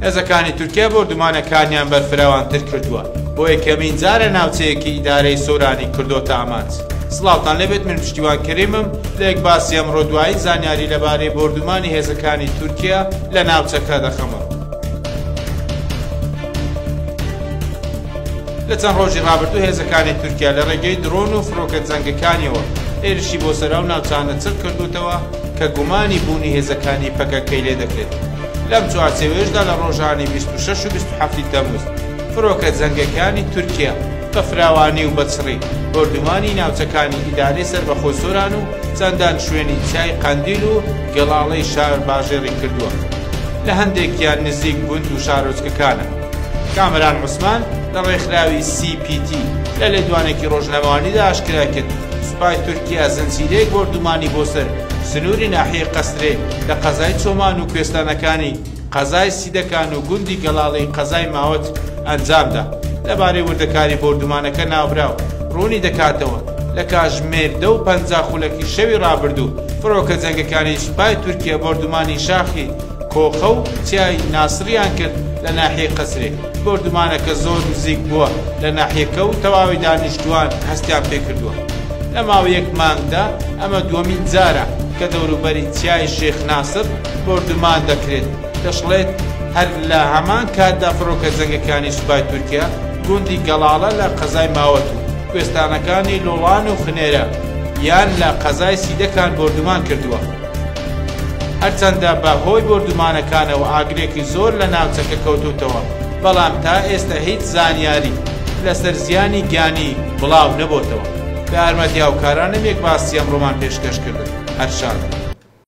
هێزەکانی تورکیا بۆردومانەکانیان بەرفراوانتر کردووە بۆ یەکەمین جارە ناوچەیەکی ئیدارەی سۆرانی کردۆتە ئامانج سڵاوتان لەبێت من پشتیوان کریمم لە یەک باسی ئەمڕۆ دوایی زانیاری لەبارەی بۆردومانی هێزەکانی تورکیا لە ناوچەکە دەخەمە لە چەند ڕۆژی ڕابردوو هێزەکانی تورکیا لە ڕێگەی درۆن و فڕۆکە جەنگەکانیەوە هێرشی بۆ سەرا و ناوچانە چڕ کردوتەوە کە گومانی بوونی هێزەکانی پەکەکەی لێ دەکرێت. لەم چوارچێوەیەشدا لە ڕۆژانی بیست و شەش و بیست و حەفتی تەمووز فرۆکە جەنگەکانی تورکیە بە فراوانی و بە چڕی بۆردومانی ناوچەکانی ئیدارەی سەربەخۆی سۆران و چەندان شوێنی چیای قەندیل و گەڵاڵەی شار باژێڕی کردووە لە هەندێکیان نزیک گوند و شارۆچکەکانە. کامەران عوسمان لە ڕێکخراوی سی پی تی لە لێدوانێکی ڕۆژنامەوانیدا ئاشکرای کرد، سوپای تورکیا زنجیرەیەک بۆردومانی بۆ سەر سنووری ناحیەی قەسرێ لە قەزای چۆمان و کوێستانەکانی قەزای سیدەکان و گوندی گەڵاڵەی قەزای ماوەت ئەنجامدا. لەبارەی وردەکاری بۆردومانەکە ناوبراو ڕوونی دەکاتەوە، لە کاتژمێر دە و پەنجا خولەکی شەوی ڕابردوو فڕۆکە جەنگەکانی سوپای تورکیا بۆردومانی شاخی کۆخە و چیای ناسڕیان کرد لە ناحیەی قەسرێ. بۆردومانەکە زۆر نزیک بووە لە ناحیەکە و تەواوی دانیشتووان هەستیان پێکردووە. لە ماوەی یەک مانگدا ئەمە دووەمین جارە کە دەوروبەری چیای شێخ ناسر بۆردومان دەکرێت، دەشڵێت، هەر لە هەمان کاتدا فڕۆکە جەنگەکانی سوپای تورکیا گوندی گەڵاڵە لە قەزای ماوەت و کوێستانەکانی لوڵان و خنێرە یان لە قەزای سیدەکان بۆردومان کردووە. هەرچەندە بە هۆی بۆردومانەکانەوە ئاگرێکی زۆر لە ناوچەکە کەوتووتەوە، بەڵام تا ئێستە هیچ زانیاری لەسەر زیانی گیانی بڵاو نەبۆتەوە. بە یارمەتی هاوکارانم یەک باسی ئەمڕۆمان پێشکەش کردن. هەر شاد.